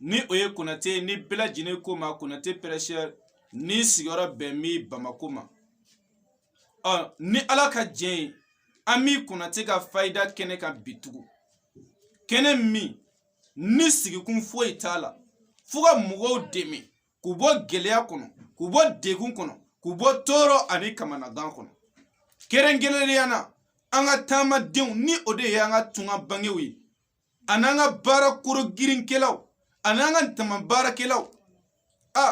ni o ye konate ni bɛɛ lajɛlen ko ma konate pɛrɛsɛri ni sigiyɔrɔ bɛnnen bamako ma ɔ ni ala ka jɛn ye an bi konate ka fayida kɛnɛ kan bi tugu kɛnɛ min ni sigikun foyi t'a la fo ka mɔgɔw dɛmɛ k'u bɔ gɛlɛya kɔnɔ k'u bɔ degun kɔnɔ k'u bɔ tɔɔrɔ ani kamanagan kɔnɔ kɛrɛnkɛrɛnnenya na an ka taamadenw ni o de ye an ka tungarankew ye a n'an ka baara kologirinkɛlaw a n'an ka daman baarakɛlaw a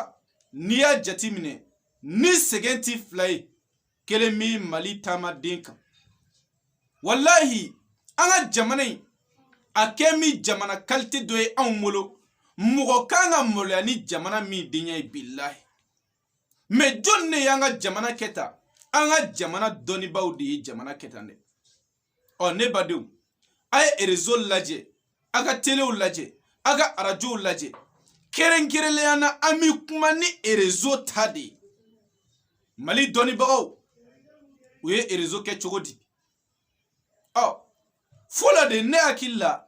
n'i y'a jate minɛ ni sɛgɛn ti fila ye kelen bɛ mali taamaden kan walahi an ka jamana in a kɛnen jamana kalite dɔ ye anw bolo mɔgɔ kan ka maloya ni jamana min denya ye bilahi mɛ jɔn de y'an ka jamana kɛ tan an ka jamana dɔnnibaaw de ye jamana kɛ tan dɛ ɔ ne badenw a ye erezo lajɛ a ka telew lajɛ a ka arajow lajɛ kɛrɛnkɛrɛnnenya na an bɛ kuma ni erezo ta de ye mali dɔnnibagaw u ye erezo kɛ cogo di ɔ fɔlɔ de ne hakili la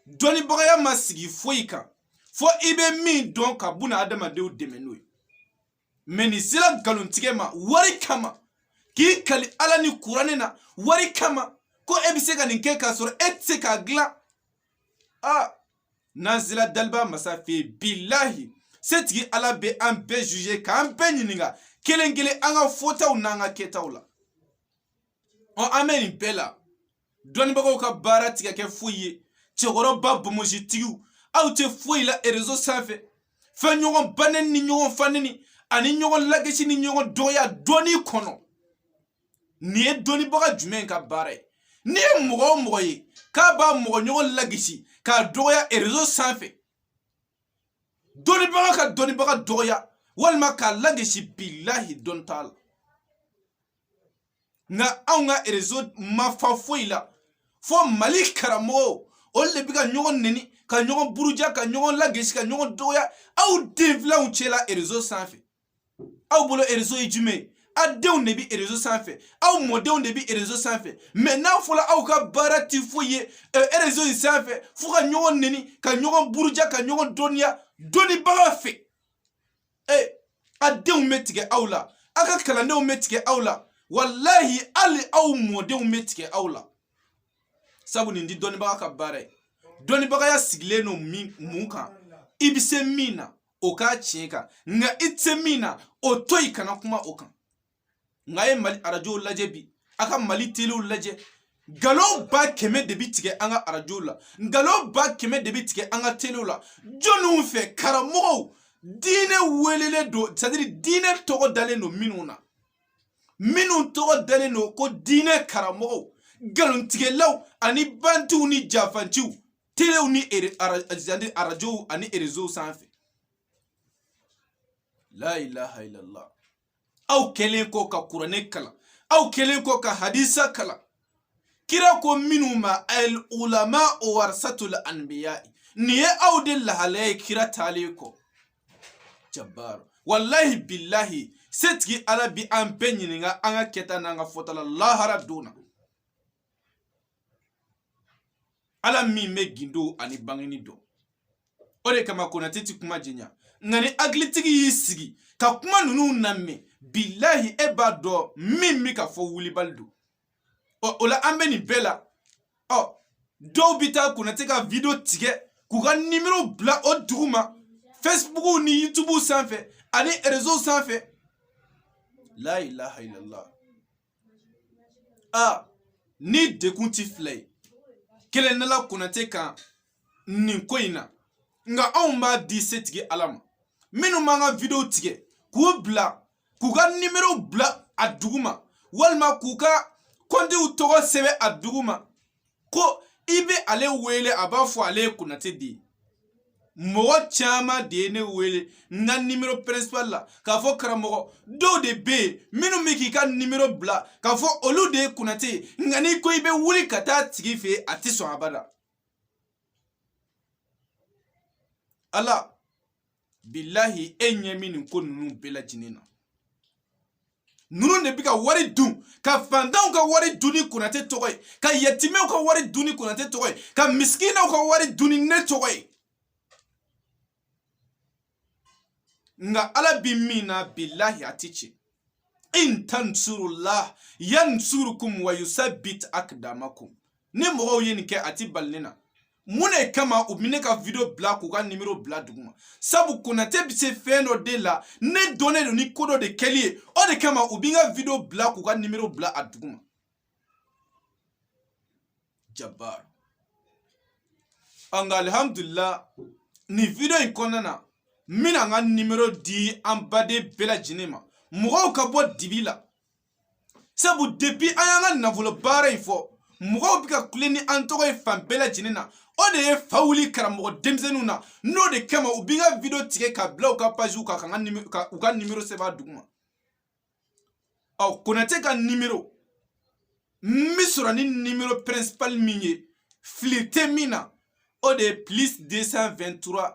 dɔnnibagaya ma sigi foyi kan fo i bɛ min dɔn ka buna adamadenw dɛmɛ n'o ye mɛ n'i sera nkalontigɛ ma wari kama k'i kali ala ni kuranɛ na wari kama ko e bɛ se ka nin kɛ k'a sɔrɔ e tɛ se k'a dilan a n'an sera daliba masa fɛ yen bilahi setigi ala bɛ an bɛɛ juge k'an bɛɛ ɲininka kelen kelen an ka fɔtaw n'an ka kɛtaw la ɔ an bɛ nin bɛɛ la dɔnnibagaw ka baara ti ka kɛ foyi ye cɛkɔrɔba bomositigiw aw tɛ foyi la erezo sanfɛ fo ɲɔgɔn baneni ni ɲɔgɔn faneni ani ɲɔgɔn lagisi ni ɲɔgɔn dɔgɔya dɔnni kɔnɔ nin ye dɔnnibaga jumɛn ka baara ye n'i ye mɔgɔ o mɔgɔ ye k'a b'a mɔgɔ ɲɔgɔn lagisi k'a dɔgɔya erezo sanfɛ dɔnnibaga ka dɔnnibaga dɔgɔya walima k'a lagisi bilahi dɔn t'a la nka anw ka erezo ma fa foyi la fo mali karamɔgɔw olu de bɛ ka ɲɔgɔn neni ka ɲɔgɔn buruja ka ɲɔgɔn lagesi ka ɲɔgɔn dɔgɔya aw denfilanw cɛla erezo sanfɛ aw bolo erezo ye jumɛn ye a denw de bɛ erezo sanfɛ aw mɔdenw de bɛ erezo sanfɛ mɛ n'a fɔra aw ka baara tɛ foyi ye erezo in sanfɛ fo ka ɲɔgɔn neni ka ɲɔgɔn buruja ka ɲɔgɔn dɔnniya dɔnnibaga fɛ ee a denw bɛ tigɛ aw la a ka kalandenw bɛ tigɛ aw la walahi hali aw mɔdenw bɛ tigɛ aw la sabu nin ti dɔnnibaga ka baara ye dɔnnibagaya sigilen don mun kan i bɛ se min na o k'a tiɲɛ kan nka i tɛ se min na o to yen kana kuma o kan nka a ye mali arajow lajɛ bi a ka mali telew lajɛ nkalon ba kɛmɛ de bi tigɛ an ka arajow la nkalon ba kɛmɛ de bi tigɛ an ka telew la jɔniw fɛ karamɔgɔw diinɛ welelen don c'est à dire diinɛ tɔgɔ dalen don minnu na minnu tɔgɔ dalen don ko diinɛ karamɔgɔw nkalontigɛlaw ani bantiw ni janfanciw telew ni arajow ani rezow sanfɛ la ilaha illallah aw kɛlen kɔ ka kuranɛ kalan aw kɛlen kɔ ka hadisa kalan kira ko minnu ma al ulama warasatul anbiya nin ye aw de lahala ye kira taalen kɔ jabbar wallahi billahi setigi ala bi an bɛɛ ɲininka an ka kɛta n'an ka fɔta la lahara don na ala min bɛ gindo ani bangeni dɔn o de kama konate ti kuma jɛya nka ni hakilitigi y'i sigi ka kuma ninnu namɛn bilahi e b'a dɔn min bɛ ka fɔ wulibali don ɔ o la an bɛ nin bɛɛ la ɔ dɔw bɛ taa konate ka video tigɛ k'u ka nimero bila o duguma facebook ni youtube sanfɛ ani rezo sanfɛ la ilaha illallah a ni dekun ti fila ye kelen dala konate kan nin ko in na nka anw b'a di setigi ala ma minnu b'an ka videow tigɛ k'u bila k'u ka nimero bila a duguma walima k'u ka kɔntiw tɔgɔ sɛbɛn a duguma ko i bɛ ale wele a b'a fɔ ale ye konate de ye mɔgɔ caman de ye ne wele n ka nimero principal la k'a fɔ karamɔgɔ dɔw de bɛ yen minnu bɛ k'i ka nimero bila k'a fɔ olu de ye konate ye nka n'i ko i bɛ wuli ka taa a tigi fɛ yen a tɛ sɔn abada ala bilahi e ɲɛ bɛ nin ko ninnu bɛɛ lajɛlen na ninnu de bɛ ka wari dun ka fantanw ka wari dun ni konate tɔgɔ ye ka yatimɛw ka wari dun ni konate tɔgɔ ye ka misikinaw ka wari dun ni ne tɔgɔ ye nka ala bi min na bilahi a ti tiɲɛ in tansurullah yansurukum wa yusabbit akdamakum ni mɔgɔw ye nin kɛ a ti bali ne na mun de kama u bɛ ne ka video bila k'u ka nimero bila a duguma sabu konate bɛ se fɛn dɔ de la ne dɔnnen don ni ko dɔ de kɛli ye o de kama u bɛ n ka video bila k'u ka nimero bila a duguma jabar nka alihamudulila nin video in kɔnɔna na n bɛna n ka nimero di an baden bɛɛ lajɛlen ma mɔgɔw ka bɔ dibi la sabu depi an y'an ka nafolo baara in fɔ mɔgɔw bɛ ka kule ni an tɔgɔ ye fan bɛɛ lajɛlen na o de ye fa wuli karamɔgɔ denmisɛnninw na n'o de kama u bɛ n ka video tigɛ ka bila u ka paziw kan ka u ka nimero sɛbɛn a duguma ɔ konate ka nimero n bɛ sɔrɔ ni nimero principal min ye fili tɛ min na o de ye plus 223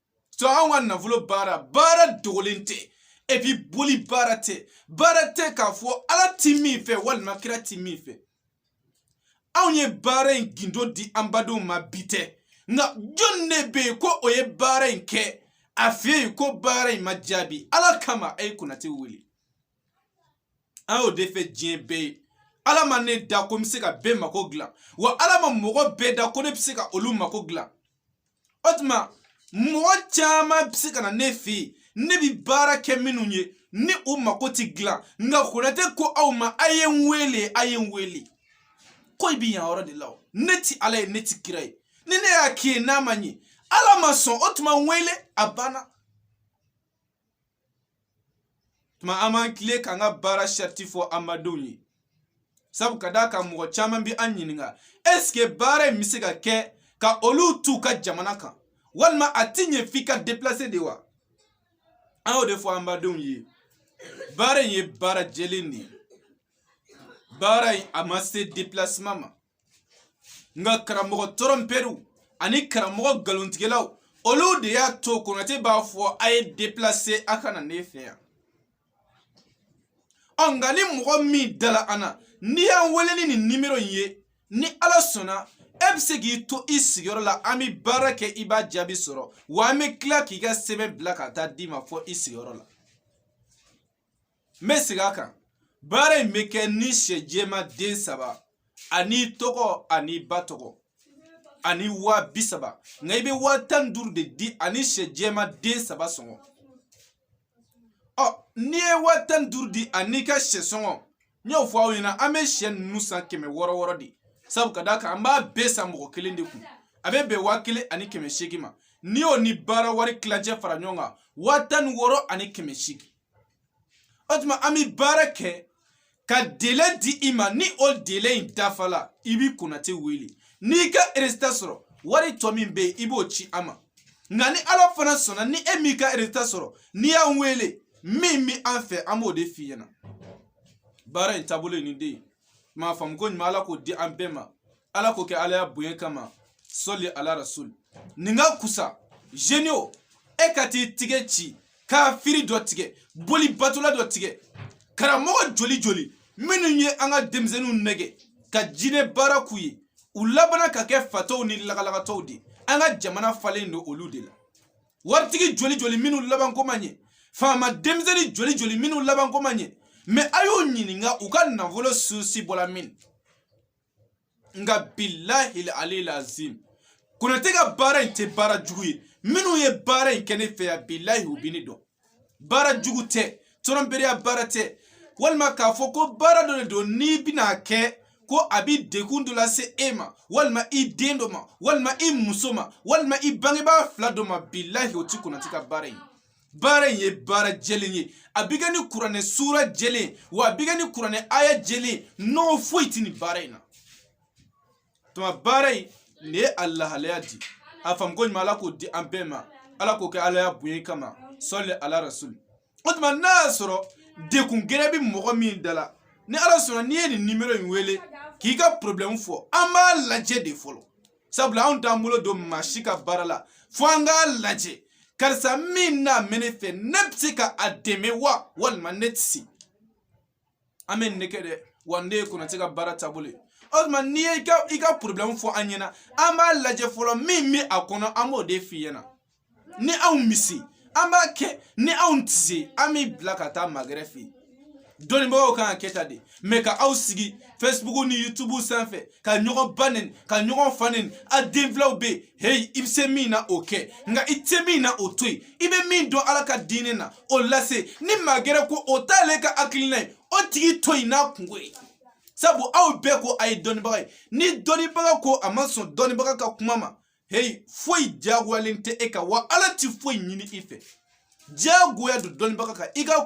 to an ka nafolo baara baara dogolen tɛ epi boli baara tɛ baara tɛ k'a fɔ ala ti min fɛ walima kira ti min fɛ anw ye baara in gindo di an badenw ma bi tɛ nka jɔni de bɛ yen ko o ye baara in kɛ a fɛ yen ko baara in ma jaabi ala kama a ye konate wele an y'o de fɔ diɲɛ bɛɛ ye ala ma ne da ko n bɛ se ka bɛɛ mako dilan wa ala ma mɔgɔ bɛɛ da ko ne bɛ se ka olu mako dilan o tuma mɔgɔ caman bɛ se ka na ne fɛ yen ne bɛ baara kɛ minnu ye ni u mako tɛ dilan nka konate ko aw ma a ye n wele a ye n wele ko i bɛ yan yɔrɔ de la o ne tɛ ala ye ne tɛ kira ye ni ne y'a k'i ye n'a ma ɲɛ ala ma sɔn o tuma n wele a banna tuma an b'an tilen k'an ka baara sariti fɔ an badenw ye sabu ka d'a kan mɔgɔ caman bɛ an ɲininka esike baara in bɛ se ka kɛ ka olu t'u ka jamana kan walima a ti ɲɛ f'i ka deplase de wa an y'o de fɔ an badenw ye baara in ye baara jɛlen de ye baara in a ma se depilasema ma nka karamɔgɔ tɔrɔnpɛriw ani karamɔgɔ nkalontigɛlaw olu de y'a to konate b'a fɔ a ye deplase a ka na ne fɛ yan ɔ nka ni mɔgɔ min dala an na n'i y'an wele ni nin nimero in ye ni ala sɔnna e bɛ se k'i to i sigiyɔrɔ la an bɛ baara kɛ i b'a jaabi sɔrɔ wa an bɛ tila k'i ka sɛbɛn bila ka taa d'i ma fɔ i sigiyɔrɔ la n bɛ segin a kan baara in bɛ kɛ ni sɛ jɛma den saba an'i tɔgɔ an'i ba tɔgɔ ani waa bi saba nka i bɛ waa tan ni duuru de di ani sɛ jɛma den saba sɔngɔ ɔ n'i ye waa tan ni duuru di an'i ka sɛ sɔngɔ n y'o fɔ aw ɲɛna an bɛ sɛ ninnu san kɛmɛ wɔɔrɔ wɔɔrɔ de sabu ka d'a kan an b'a bɛɛ san mɔgɔ kelen de kun a bɛ bɛn waa kelen ani kɛmɛ seegin ma n'i y'o ni baara wari tilancɛ fara ɲɔgɔn kan waa tan ni wɔɔrɔ ani kɛmɛ seegin o tuma an bɛ baara kɛ ka dele di i ma ni o dele in dafala i bi konate wele n'i ka eresita sɔrɔ wari tɔ min bɛ yen i b'o ci an ma nka ni ala fana sɔnna ni e m'i ka eresita sɔrɔ n'i y'an wele min bɛ an fɛ an b'o de f'i ɲɛna baara in taabolo ye nin de ye m'a faamu ko ɲuman ala k'o di an bɛɛ ma ala k'o kɛ alaya bonya kama sɔli ala rasul nin ka kusa zeni o e ka t'i tigɛ ci kafiri dɔ tigɛ boli batola dɔ tigɛ karamɔgɔ joli joli minnu ye an ka denmisɛnninw nɛgɛ ka jinɛ baara k'u ye u labana ka kɛ fatɔw ni lagalagatɔw de an ka jamana falen don olu de la waritigi joli joli minnu labanko ma ɲɛ faama denmisɛnnin joli joli minnu labanko ma ɲɛ mɛ a y'u ɲininka u ka nafolo susi bɔla min nka bilahi alil azim konate ka baara in tɛ baara jugu ye minnu ye baara in kɛ ne fɛ yan bilahi u bɛ ne dɔn baara jugu tɛ tɔrɔnberiya baara tɛ walima k'a fɔ ko baara dɔ de don n'i bɛna a kɛ ko a bɛ degun dɔ lase e ma walima i den dɔ ma walima i muso ma walima i bangebaa fila dɔ ma bilahi o ti konate ka baara ye baara in ye baara jɛlen ye a bɛ kɛ ni kuranɛ suura jɛlen wa a bɛ kɛ ni kuranɛ aya jɛlen nɔgɔ foyi tɛ nin baara in na tuma baara in nin ye a lahalaya di a faamuko ɲuman ala k'o di an bɛɛ ma ala k'o kɛ alaya bonya kama sɔli ala rasuli o tuma n'a y'a sɔrɔ degun gɛrɛ bɛ mɔgɔ min da la ni ala sɔnna n'i ye nin nimero in wele k'i ka porobilɛmu fɔ an b'a lajɛ de fɔlɔ sabula anw t'an bolo don maa si ka baara la fo an k'a lajɛ karisa min n'a mɛ ne fɛ ne bɛ se ka a dɛmɛ wa walima ne tɛ se an bɛ nin kɛ dɛ wa nin ye konate ka baara taabolo ye o tuma n'i ye i ka i ka porobilɛmu fɔ an ɲɛna an b'a lajɛ fɔlɔ min bɛ a kɔnɔ an b'o de f'i ɲɛna ni anw bɛ se an b'a kɛ ni anw tɛ se an b'i bila ka taa magɛrɛ fɛ yen dɔnnibagaw kan ka kɛ tan de mɛ ka aw sigi facebook ni youtube sanfɛ ka ɲɔgɔn ba neni ka ɲɔgɔn fa neni a denfilaw bɛ yen heyi i bɛ se min na o kɛ nka i tɛ se min na o to yen i bɛ min dɔn ala ka diinɛ na o lase ni magɛrɛ ko o t'ale ka hakilina ye o tigi to yen n'a kunko ye sabu aw bɛɛ ko a ye dɔnnibaga ye ni dɔnnibaga ko a ma sɔn dɔnnibaga ka kuma ma heyi foyi diyagoyalen tɛ e kan wa ala ti foyi ɲini i fɛ diyagoya don dɔnnibaga kan i ka